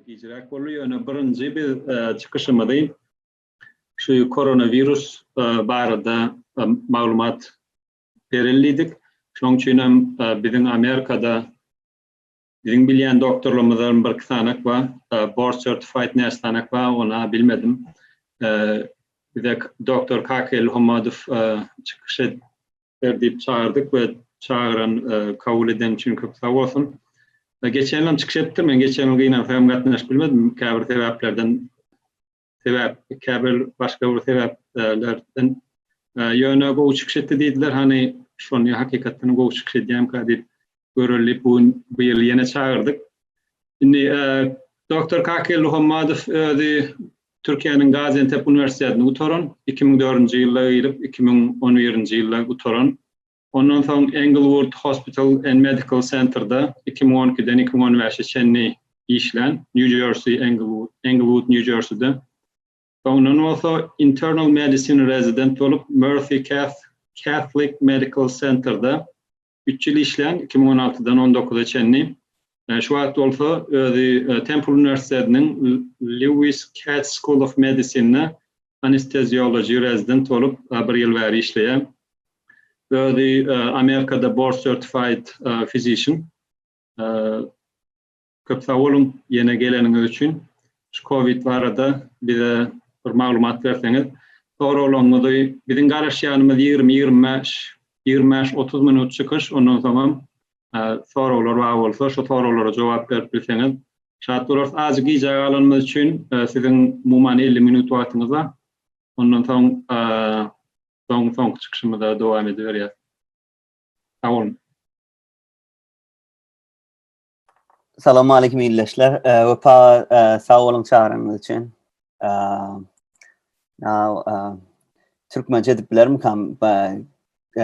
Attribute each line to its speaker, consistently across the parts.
Speaker 1: Gijräk boldy, ýöne birinji biz çykyşymyzy şu koronawirus barada maglumat berelidik. Şonuň üçin hem biziň Amerikada Biziň bilýän doktorlarymyzam birki sanak bar. Board certified näçe sanak bar, ony bilmedim. Bize doktor Kaka Ilhomadow çykyş et ber diýip çagyrdyk we çagyran, kabul eden üçin köp sag bolsun. Geçen ýylam çykyş etdim, men geçen ýyl gynansaň gatnaşyp bilmedim, käbir sebäplerden sebäp, käbir başga bir sebäplerden ýöne gowy çykyş etdi diýdiler. Hany şony hakykatdan gowy çykyş edýänkä diýip göreli bu gün bu ýyl ýene çagyrdyk. Indi doktor Kakel Muhammadow özi Türkiýäniň Gaziantep uniwersitetini gutaran, 2004-nji ýylda girip, 2011-nji ýylda gutaran. Ondan soň Englewood Hospital and Medical Center-da iki müň on ikiden iki müň on bäşe çenli işlän, Nýu-Jersey, Englewood, Englewood, Nýu-Jerseyde. Soňundan bolsa Internal Medicine rezident bolup, Mercy Cath, Catholic Medical Center-da üç ýyl işlän, iki müň on altydan on dokuza çenli. Şu wagt bolsa özi Temple uniwersitetiniň Lewis Katz School of Medicine-de anesteziology rezident bolup bir ýyl bäri işleýär. Özi Amerikada board certified physician. Köp sag boluň ýene geleniňiz üçin. Şu covid barada bize bir maglumat berseňiz. Soraglaryňyzy biziň garaşýanymyz ýigrimi, ýigrimi bäş, ýigrimi bäş, otuz minut çykyş ondan soňam soraglar bar bolsa şu soraglara jogap berip bilseňiz şat bolarys. Azjyk gijä galanymyz üçin e, siziň umuman 50 minut wagtyňyz bar. Ondan soň e, soň soňky çykyşymyza dowam ediberýäs. Sag bolun.
Speaker 2: Salam aleyküm ildeşler. E, Wepa e, sag bolun çagyryňyz üçin. E, now, e, Türkmençe edip bilerim kam. E,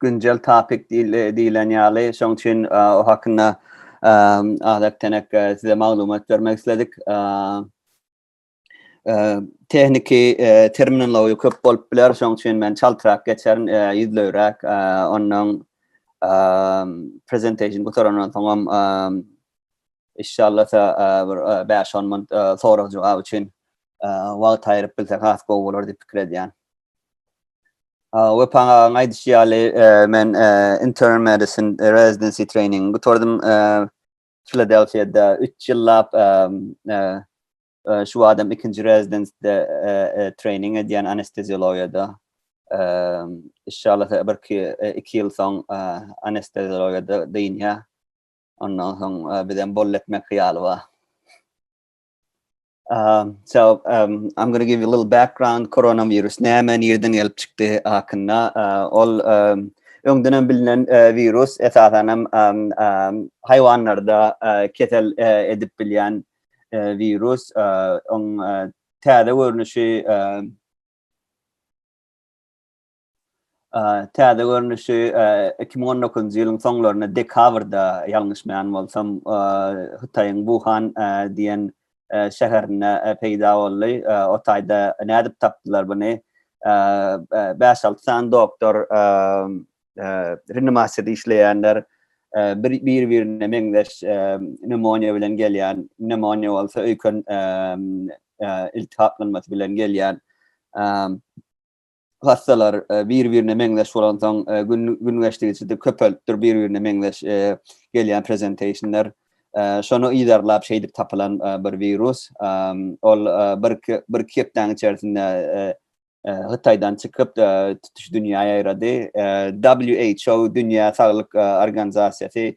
Speaker 2: güncel topik diýilen ýaly, şoň üçin o hakynda Azat Tenek size maglumat bermek isledik. Tehniki terminologiýa köp bolup biler, şoň üçin men çaltrak geçerin, ýüzleýräk, ondan presentation gutarandan soňam inşallah bir 5-10 minut sorag-jogap üçin wagt aýryp bilsek has gowy bolar diýip pikir edýän. Wepan agaň aýdyşy ýaly men intern medicine residency training gutardym Filadelfiýada 3 ýyllap şu adam ikinji rezidensiýada training edýän anesteziologiýada. Inşallah bir ki 2 ýyl soň anesteziologiýada dynýa. Ondan soň bizem bol etmek hyýaly bar. Um, so um, I'm going to give you a little background coronavirus näme nirden gelip çykdy hakynda uh, ol um, öňden hem bilinen uh, virus esasan hem um, um, haýwanlarda uh, kesel uh, edip bilýän uh, virus uh, on uh, täze görnüşi uh, Täze görnüşi iki müň on dokuzynjy ýylyň soňlarynda dekabrda, ýalňyşmaýan bolsam, Hytaýyň Wuhan diýen şäherinde peýda boldy. O taýda nädip tapdylar buny? Bäş-alty sany doktor, reanimasiýada işleýänler bir-birine meňzeş pnewmoniýa bilen gelýän, pnewmoniýa bolsa öýken iltihaplanmasy bilen gelýän hassalar bir-birine meňzeş bolansoň, gün gün geçdigiçe köpelip dur bir-birine meňzeş gelýän prezentationlar. Şony yzarlap şeýdip tapylan bir wirus. Ol bir-iki bir-iki hepdäniň içerisinde Hytaýdan çykyp tutuş dünýä ýaýrady. WHO dünýä saglyk organizasiýasy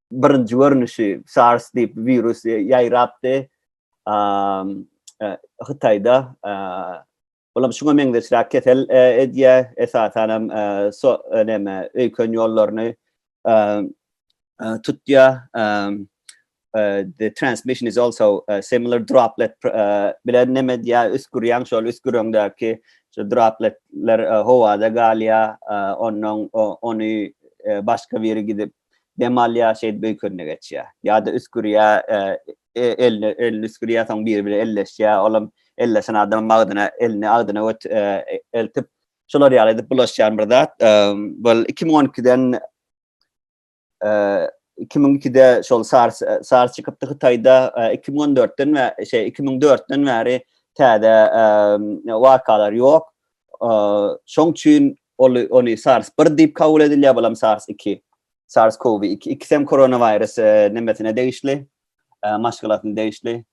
Speaker 2: birinji görnüşi SARS diýip wirus ýaýrapdy. Hytaýda olam şuňa meňzeşräk kesel edýä, esasan hem so näme öýken ýollaryny tutýa. The transmission is also similar droplet bilen näme edýä, üsgürýäň şol üsgüreňdäki şu dropletler howada galýa, ondan ony başga biri gidip dem alýar, şeýdip öýkenine geçýär. Ýa-da üsgürýär, e, elini elini üsgürýär, soň biri bilen elleşýär, olam elleşen adam agzyna elini agzyna göt e, e, eltip şolar ýaly edip bulaşýan bir zat. E, bol 2012-den e, 2002-de şol SARS e, SARS çykypdy Hytaýda, e, 2014-den we şey 2004-den bäri täze e, wakalar ýok. Şoň üçin ol ony SARS 1 diýip kabul edilýär, bulam SARS 2. SARS-CoV-2 ikisi hem koronawirus nemesine degişli, maşgalasyna degişli.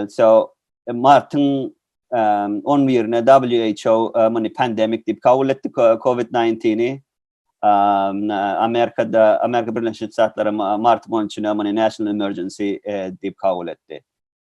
Speaker 2: So martyň 11-ne WHO muny pandemik diýip kabul etdi COVID-19-i. Amerikada, Amerika Birleşen Ştatlary martyň 13-ne muny national emergency diýip kabul etdi.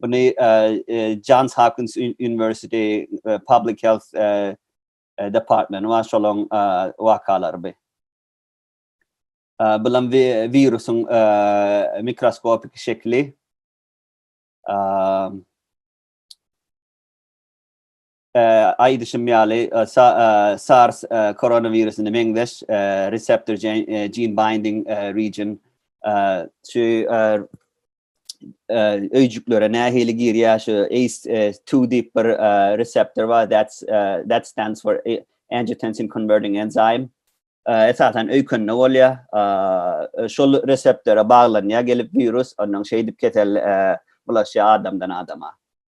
Speaker 2: Buny Johns Hopkins University Public Health Department we şolaň wakalary bu. Bulam virusyň mikroskopik şekli. aýdyşym ýaly, SARS koronawirusyna meňzeş reseptor gene binding region şu öýjüklere nähili girýär şu ACE2 diýip bir reseptor bar that's that stands for angiotensin converting enzyme esasan öýkende bolýar şol reseptora baglanýar gelip wirus ondan şeýdip kesel bulaşýar adamdan adama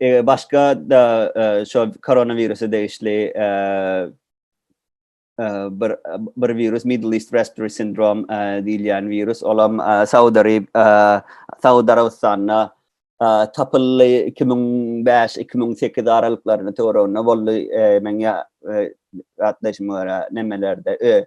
Speaker 2: Eger başga da şo koronawirusa degişli bir bir virus Middle East Respiratory Syndrome diýilýän virus olam Saud Arab Saud Arabystanda tapyldy 2005-2008 aralyklaryna töwereginde boldy men ýa ýatlaýşyma görä nemelerde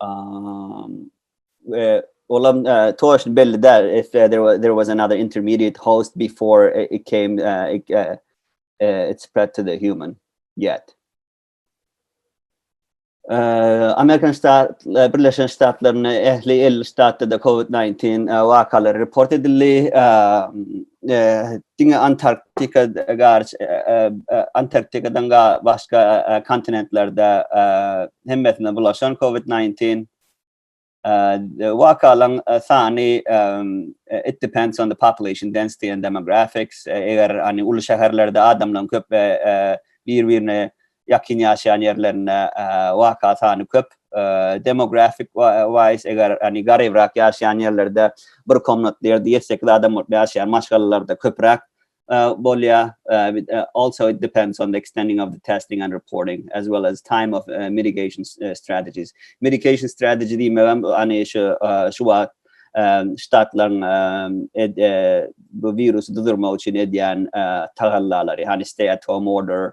Speaker 2: Um, uh, well, um, uh, Tosh belli that if uh, there was there was another intermediate host before it, it came, uh, it, uh, uh, it spread to the human yet. Uh, Amerikan Ştat, uh, Birleşen Ştatlarynyň ähli 50 ştatda da COVID-19 uh, wakalary report edildi. Uh, uh, diňe Antarktika garç Antarktikadan başga kontinentlerde hemmesine bulaşan COVID-19 wakalan sany it depends on the population density and demographics eger hani uly şäherlerde adamlaryň köp bir-birine ýakyn ýaşaýan ýerlerinde waka sany köp. Demografik wise eger hani garybrak ýaşaýan ýerlerde bir komnatly ýerde ýedi sekiz adam bolup ýaşaýan maşgalalarda köpräk bolýar. Also it depends on the extending of the testing and reporting as well as time of mitigation strategies. Mitigation strategy diýmegem hani şu şu wagt ştatlaryň bu wirusy durdurmak üçin edýän tagallalary, hani stay at home order,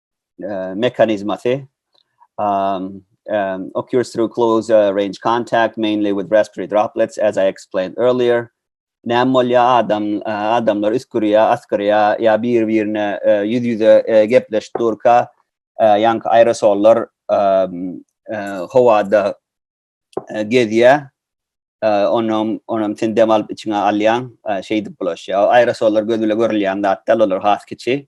Speaker 2: uh, mekanizmasy um, um, occurs through close uh, range contact, mainly with respiratory droplets, as I explained earlier. Näm bolýar adam, uh, adamlar üskürýär, asgyrýar, ýa bir-birine uh, ýüz-ýüze uh, gepleşip durka, uh, ýaňky aerosollar um, uh, howada uh, gezýär, uh, onam, onam sen dem alyp içiňe alýaň, uh, şeýdip bulaşýar. Aerosollar göz bile görülýän zatlar, olar has kiçi.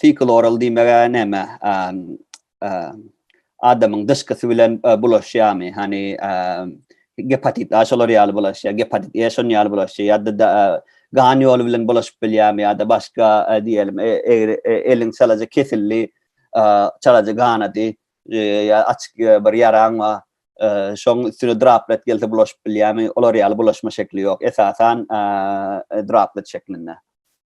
Speaker 2: Sikuloral diýmege näme? Adamyň dyşkysy bilen bulaşýamy? Hani gepatit A şolar ýaly bulaşýar, gepatit E şon ýaly bulaşýar ýa-da gan ýoly bilen bulaşyp bilýärmi ýa-da başga diýelim eliň çalaja kesildi, çalaja ganady, ýa açyk bir ýaraň bar, şoň üstüne draplet gelse bulaşyp bilýärmi? Olar ýaly bulaşma şekli ýok. Esasan draplet şeklinde.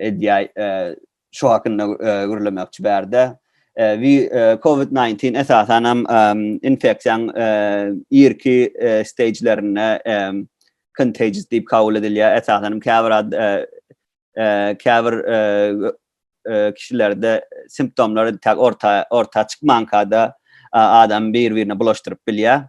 Speaker 2: Edýäý, şo hakynda gürlemekçi bärde. We COVID-19 esasan hem infeksiýaň irki stagelerinde contagious diýip kabul edilýär. Esasan hem käbir käbir kişilerde simptomlar tak orta orta çykmankada adam bir-birine bulaşdyryp bilýär.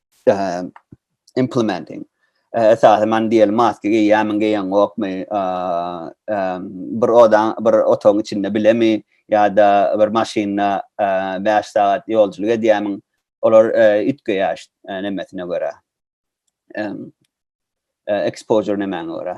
Speaker 2: implementing esasy man diýeli maska geýýämiň geýen gokmy bir oda bir otagyň içinde bilemi ýa-da bir maşynda 5 sagat ýolçylyk edýämiň olar üýtgeýär nemesine görä exposure nemäňe görä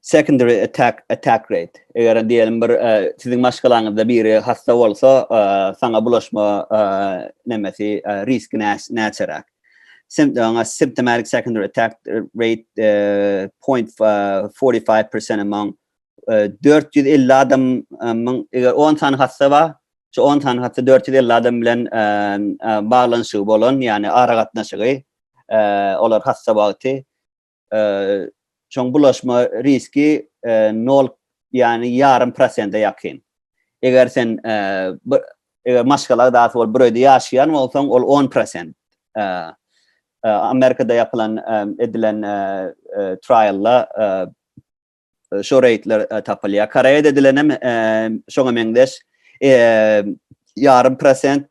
Speaker 2: secondary attack attack rate eger diýelim bir e, siziň maşgalaňyzda biri hasta bolsa e, saňa bulaşma e, nemesi risk näçeräk symptoms symptomatic secondary attack rate uh, 0.45% among uh, 450 adamyň eger 10 sany hassa bar şu 10 sany hassa 450 adam bilen uh, uh, baglanşygy bolan ýagny ara gatnaşygy uh, olar hassa wagty Şoň bulaşma riski nol, ýagny ýarym prosente ýakyn. Eger sen eger maşgala agzasy bolup bir öýde ýaşaýan bolsaň, ol on prosent. Amerikada ýapylan edilen trialda şo reýtler tapylýar. Koreýada edilen hem şoňa meňzeş ýarym prosent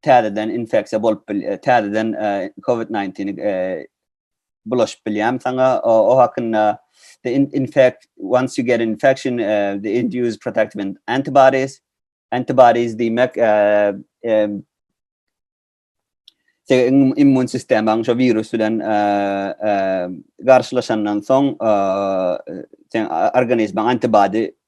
Speaker 2: täzeden infeksiýa bolup bil, täzeden COVID-19 bulaşyp bilýämi saňa o hakynda the in, in fact once you get an infection uh, the induced protective antibodies antibodies diýmek uh, um, immun sistemaň şu virus bilen garşylaşandan soň sen organizmaň antibody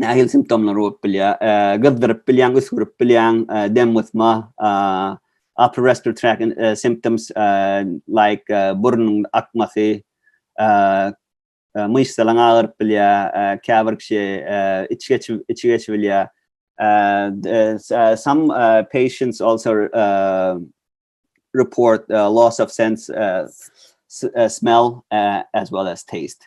Speaker 2: nähili simptomlar bolup bilýär? Gyzdyryp bilýän, üsgürip bilýän, dem gysma, upper respiratory tract uh, symptoms uh, like uh, burnuň akmasy, uh, uh, myşsalaň agyryp bilýär, uh, käbir kişi uh, içi geçip içi geçip bilýär. Uh, uh, some uh, patients also uh, report uh, loss of sense uh, uh, smell uh, as well as taste.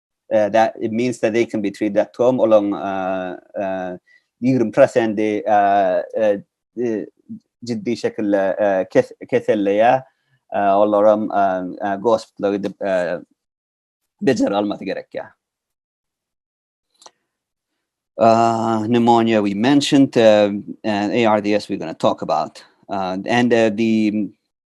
Speaker 2: uh, that it means that they can be treated at home olaň uh, uh, 20 prosenti uh, uh, uh, ciddi şekilde uh, kes, keselleýär uh, olar hem uh, uh, gospitala gidip uh, bejer almasy gerek ya. Uh, pneumonia we mentioned uh, and ARDS we're going to talk about uh, and uh, the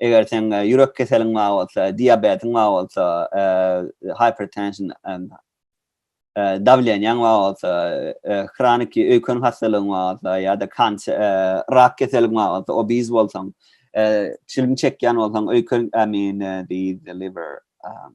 Speaker 2: eger sen e, ýürek keseliň bar bolsa, diabetiň bar bolsa, e, hypertension, e, dawlenýäň bar bolsa, hronik öýken hastalygyň bar bolsa ýa-da kanser, rak keseliň bar bolsa, obiz bolsaň, çilim çekýän bolsaň, öýken, I mean, the liver, um,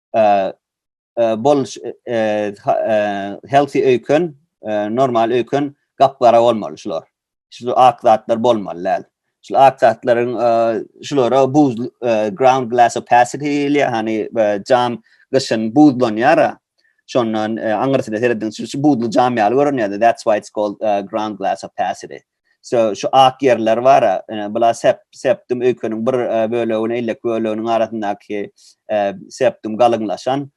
Speaker 2: bol healthy öýken normal öýken gapgara bolmaly şular şul ak zatlar bolmaly däl şul ak zatlaryň şulara buz ground glass opacity diýilýär hani jam gyşyn buzlanýar şondan aňyrsyna seredin şu buzly jam ýaly görünýär that's why it's called ground glass opacity Sö şu ak ýerler bar-a, ine, bula sep, sepdum öýkeniň bir bölegini, ellek böleginiň arasyndaky sepdum galyňlaşan,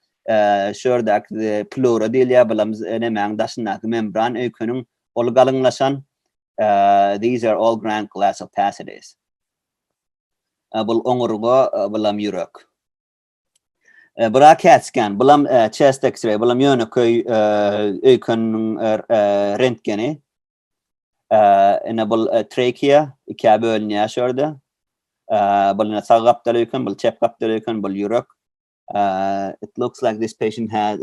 Speaker 2: şu ýerdäki pleura diýilýär, bulam nemäň daşyndaky membran öýkeniň, ol galyňlaşan, these are all grand glass opacities. Bul oňurga, bulam ýürek. Bura CAT scan, bulam chest X-ray, bulam ýönekeý öýkeniniň rentgeni. Ine bul trachea, ikä bölünýär şu ýerde. Bul ine sag gapdal öýken, bul çep gapdal öýken, bul ýürek. It looks like this patient had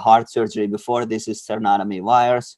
Speaker 2: heart surgery before, this is sternotomy wires.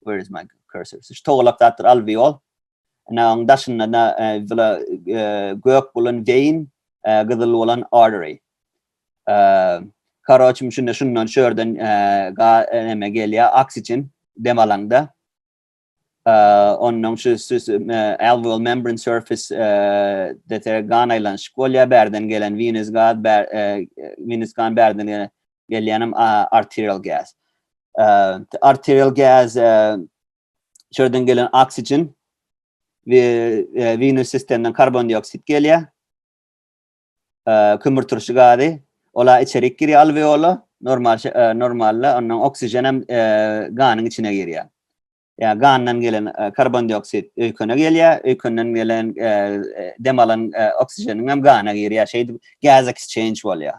Speaker 2: where is my cursor? Şu togalak zatdyr alveol. Ana onuň daşynda da bula gök bolan vein, gyzyl bolan artery. Karoçim şunda şundan şu yerden ga neme gelýär oksigen dem alaňda. Ondan şu alveol membrane surface dete gan aýlanyşyk bolýar bärden gelen venous gaz, venous gan bärden gelen gelýänem arterial gas. Arterial gas şerden gelen oksigen we venöz sistemden karbon dioksid gelýär. Kömür turşy gazy ola içerik girýär alveola normal normalda ondan oksigen hem ganyň içine girýär. Ya gandan gelen e, karbondioksit öykene gelýär, öykenden gelen e, e, dem alan e, oksigeniň hem gana girýär. Şeýdip gas exchange bolýar.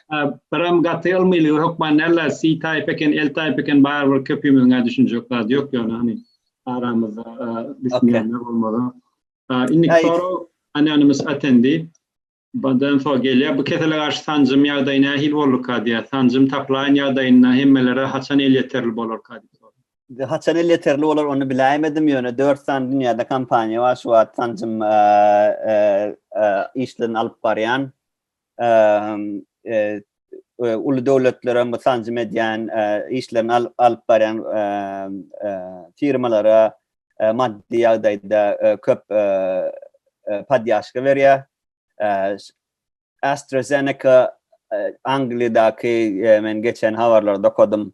Speaker 1: Biram gaty ylmylygy hökman näla si taýp eken el taýp eken bar bir köpimiziňä düşünjek zat ýok ýöne hani aramyzda düşünýänler bolmaly. Indi soru anonymous attendi. Bundan so gelýär. Bu kesele garşy sanjym ýagdaýy nähili bolurka diýýär. Sanjym taplaýyn ýagdaýynda hemmelere haçan elýeterli bolarka diýip soraýar. Haçan elýeterli
Speaker 2: bolar ony biläýmedim ýöne dört sany dünýäde kompaniýa bar şu wagt sanjym işlerini alyp barýan. uly döwletlere bu sanjym edýän işlerini alyp barýan firmalara maddy ýagdaýda köp podýaşka berýär. AstraZeneca Angliýadaky men geçen habarlarda okadym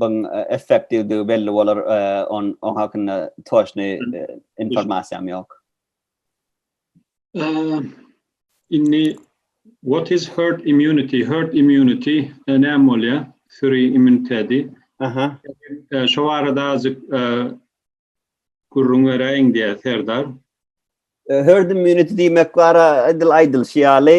Speaker 2: Buň effektiwdigi belli bolar, on on hakynda toşny informasiýam ýok.
Speaker 1: Indi what is herd immunity? Herd immunity näme bolýar? Süri immuniteti. Aha.
Speaker 2: Şo barada
Speaker 1: azjyk gürrüň beräýiň diýär Serdar.
Speaker 2: Herd immunity diýmek bara edil aýdylyşy ýaly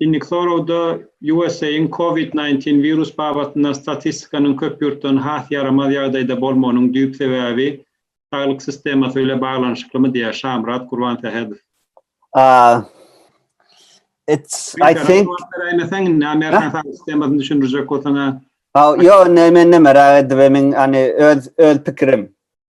Speaker 1: Indiki soragda USA-yň COVID-19 wirus babatynda statistikanyň köp ýurtdan has ýaramaz ýagdaýda bolmagynyň düýp sebäbi saglyk sistemasy bile baglanyşyklymy diýýär Şamyrat Gurbansähedow.
Speaker 2: Ýok,
Speaker 1: men näme
Speaker 2: merak edip, men öz pikirim.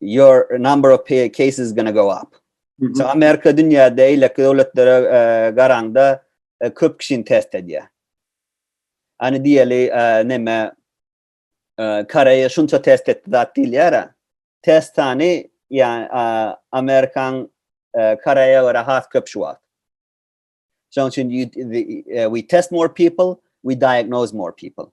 Speaker 2: your number of cases is going to go up. So Amerika dünýäde eýleki döwletlere garanda köp kişini test edýär. Ani diýeli näme Koreýa şunça test etdi zat diýilýär. Test sany ýa Amerikan Koreýa we has köp şu wagt. Şonuň üçin we test more people, we diagnose more people.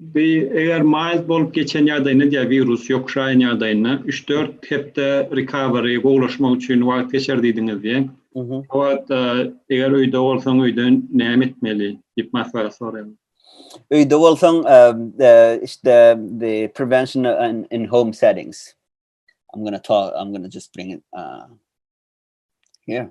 Speaker 1: Bi eger mild bolup geçen ýagdaýynda diýýär wirus ýokuşaýan ýagdaýynda üç dört hepde recovery gowulaşmak üçin wagt geçer diýdiňiz diýýär. O wagt eger öýde bolsaň öýde näme etmeli diýip maslahat soraýarlar. Öýde
Speaker 2: bolsaň işte the prevention in home settings I'm gonna talk I'm gonna just bring it uh, here.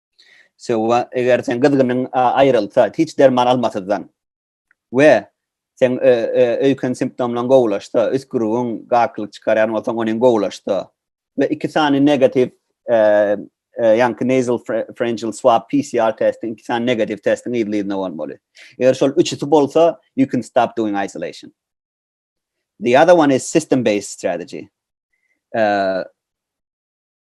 Speaker 2: Söwa, eger sen gyzgynyň aýrylsa, hiç derman almasyzdan we sen öýken simptomlaryň gowulaşsa, üsgürigiň gakylyk çykarýan bolsaň, onuň gowulaşsa we iki sany negatiw ýaňky nasal pharyngeal swab PCR testi, iki sany negatiw testiň yzly-yzyna bolmaly. Eger şol üçüsi bolsa, you can stop doing isolation. The other one is system-based strategy.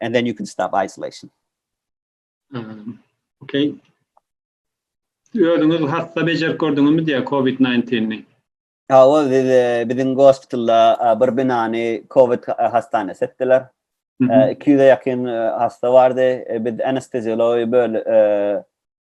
Speaker 2: And then you can stop isolation. Um,
Speaker 1: okay. Özüňiz hassa bejerip gördüňizmi
Speaker 2: diýä COVID-19-ni? Ha, o biziň gospitalda bir binany COVID hastanesi etdiler. 200-e ýakyn hassa bardy. Biz anesteziologiýa böl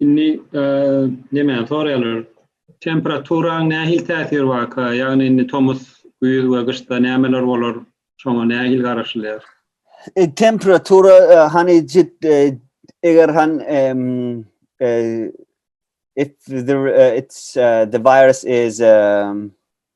Speaker 1: Indi näme soraýarlar? Temperaturaň nähili täsiri barka? Ýagny indi tomus, güýz we gyşda nämeler bolar? Şoňa nähili garaşylýar? E, temperatura
Speaker 2: e, hani jit e, eger han if the it's the virus is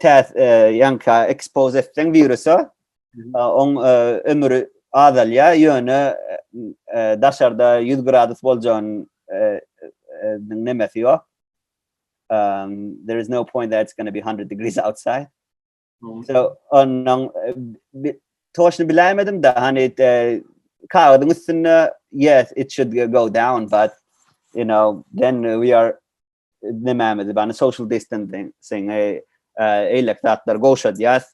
Speaker 2: täs ýaňka ekspos etseň wirusa oň ömri azalýar ýöne daşarda 100 gradus boljagyny nemesi ýok um, there is no point that it's going to be 100 degrees outside. Mm. So ondan e, toşunu bilemedim da hani e, kağıdın üstünde yes it should go down but you know then we are nemämizi bany social distancing sen e, e, eýlek zatlar gowşadýas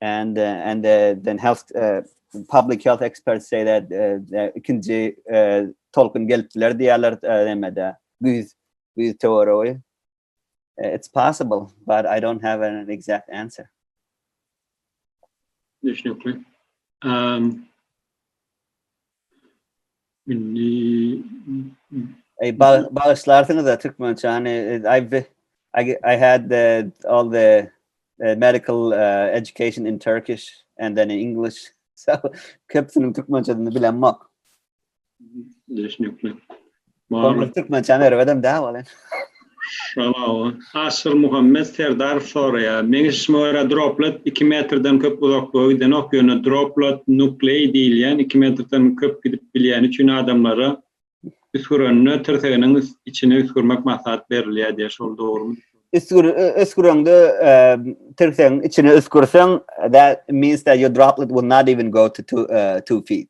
Speaker 2: and uh, and uh, then health uh, public health experts say that uh, ikinji uh, tolkun gelip biler diýerler uh, nemede güýz güýz teoriýy uh, it's possible but i don't have an exact answer Düşünükli.
Speaker 1: Um, Indi
Speaker 2: Ey bagyşlarsyňyz-a türkmençäni. I've I, I had the, all the uh, medical uh, education in Turkish and then in English. So köpüsiniň türkmençesini bilemok.
Speaker 1: Düşünükli.
Speaker 2: Goňur türkmençäni öwredem dä wal indi.
Speaker 1: Şalawa. Aşyrmuhammet Serdarow soraýar, Meň eşitişime görä droplet iki metrden köp uzaklyga gidenok, ýöne droplet nukleý diýilýän iki metrden köp gidip bilýäni üçin adamlara üsgürende tirseginiň içine üsgürmek maslahat berilýär diýýär, şol dogrumy? Üsgür üsgürende
Speaker 2: tirsegiň içine üsgürseň that means that your droplet will not even go to two feet.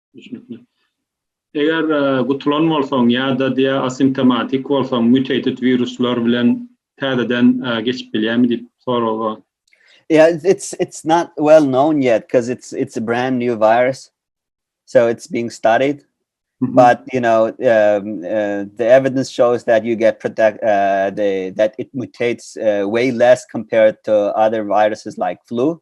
Speaker 2: Düşünikli.
Speaker 1: Eger e, gutulan bolsaň ýa-da diýä asimptomatik bolsaň, mutated wiruslar bilen täzeden e, geçip bilýärmi diýip soraga. Yeah, it's,
Speaker 2: it's it's not well known yet because it's it's a brand new virus, so it's being studied. Mm -hmm. But you know, um, uh, the evidence shows that you get protect uh, the that it mutates uh, way less compared to other viruses like flu.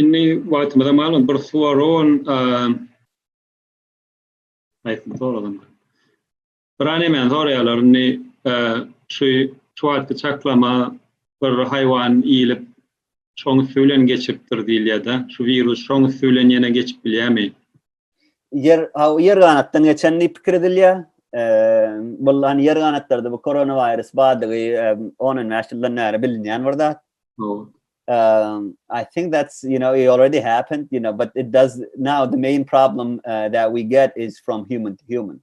Speaker 2: Indi
Speaker 1: wagtymyza malum bir suwaron aýtym soralım. Bir anemen soraýarlar indi şu şu wagtky çaklama bir haýwan iýilip şoň üsti bilen geçipdir diýilýär-de, şu wirus şoň üsti bilen ýene geçip bilýärmi? ýer
Speaker 2: ýer ganatdan geçen diýip pikir edilýär. Bu lan ýer ganatlarda bu koronawirus badygy 10-15 ýyldan bäri bilinýän bir zat. Um, I think that's you know it already happened, you know, but it does now the main problem uh, that we get is from human to human.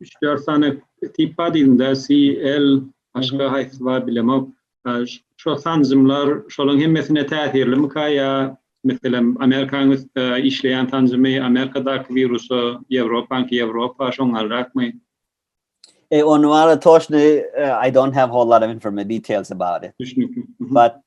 Speaker 1: Üç-dört sany tip bar diýdim dä, C, L, başga haýsy bar bilemok. Şo sanjymlar şolaryň hemmesine täsirlimika ýa meselem Amerikanyň üstde işleýän sanjymy Amerikadaky wirusa, Ýewropanyňky Ýewropa şoňňalrakmy?
Speaker 2: Ony wala toşny I don't have whole lot of information details about it. Düşnükli. But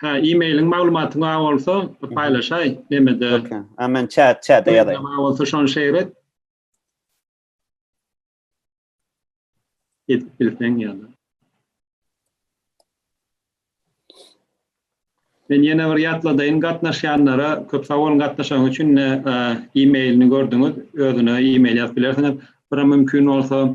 Speaker 2: Hä
Speaker 1: e-mailiň maglumatyň bar bolsa paýlaşaý nemede. Okey. Hä men chat
Speaker 2: chata ýazaýyn. Bar bolsa şony şeýr
Speaker 1: et. Edip bilseň ýa-da. Men ýene bir ýatladaýyn gatnaşýanlara köp sag boluň gatnaşanyň üçin e-mailini gördüňiz özüne e-mail ýazyp bilersiňiz. Bira mümkin bolsa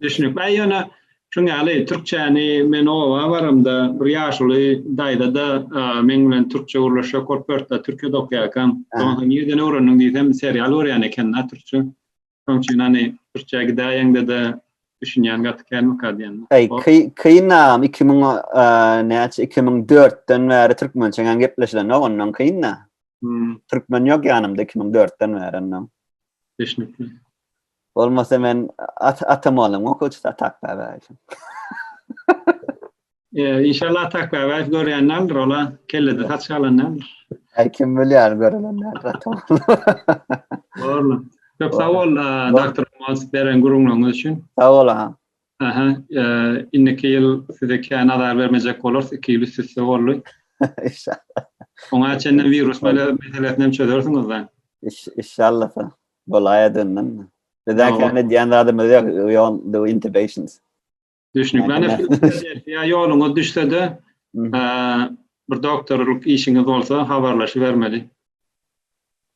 Speaker 2: Düşnükli. Aý ýöne
Speaker 1: şuň ýaly türkçäni men oba baramda bir ýaşuly daýza-da meň bilen türkçe gürleşjek bolup ýörtdä türkiýede okaýarkam. Soň soň nirden öwrendiň diýsem serial görýän ekenda türkçe. Şoň üçin hany türkçä gidäýeňde-de düşünýän gaty känmika diýen. Aý kyn agam
Speaker 2: iki müň näçe iki müň dörtden bäri türkmençeňem gepleşilenok onnoň kyn-da. Türkmen ýok ýanymda iki müň dörtden bäri onnoň. Düşnükli. Bolmasa men atam boldum o köçüt atak bäbäýew. Eee
Speaker 1: inşallah atak bäbäýew görýän däldir ola kellede saç galan däldir. Äý kim bilýär
Speaker 2: görülen däldir atam.
Speaker 1: Borla. Köp sag bol doktor Mas beren gürrüňleriňiz üçin. Sag bol aha. Aha
Speaker 2: eee
Speaker 1: indiki ýyl size kä nazar bermejek bolarys iki ýyl üst üste boldy. Inşallah.
Speaker 2: Oňa çenli
Speaker 1: wirus meselesini hem çözersiňiz da. Inşallah.
Speaker 2: Bolaýa döndüm. Bizden Ýa, kän edýän zadymyz ýok. We don't do intubations. Düşnükli. Ýa,
Speaker 1: Ýa, näme? Filadelfiýa ýoluňyz düşse-de, Mhm. eee, bir doktorlyk işiňiz bolsa, habarlaşybermeli.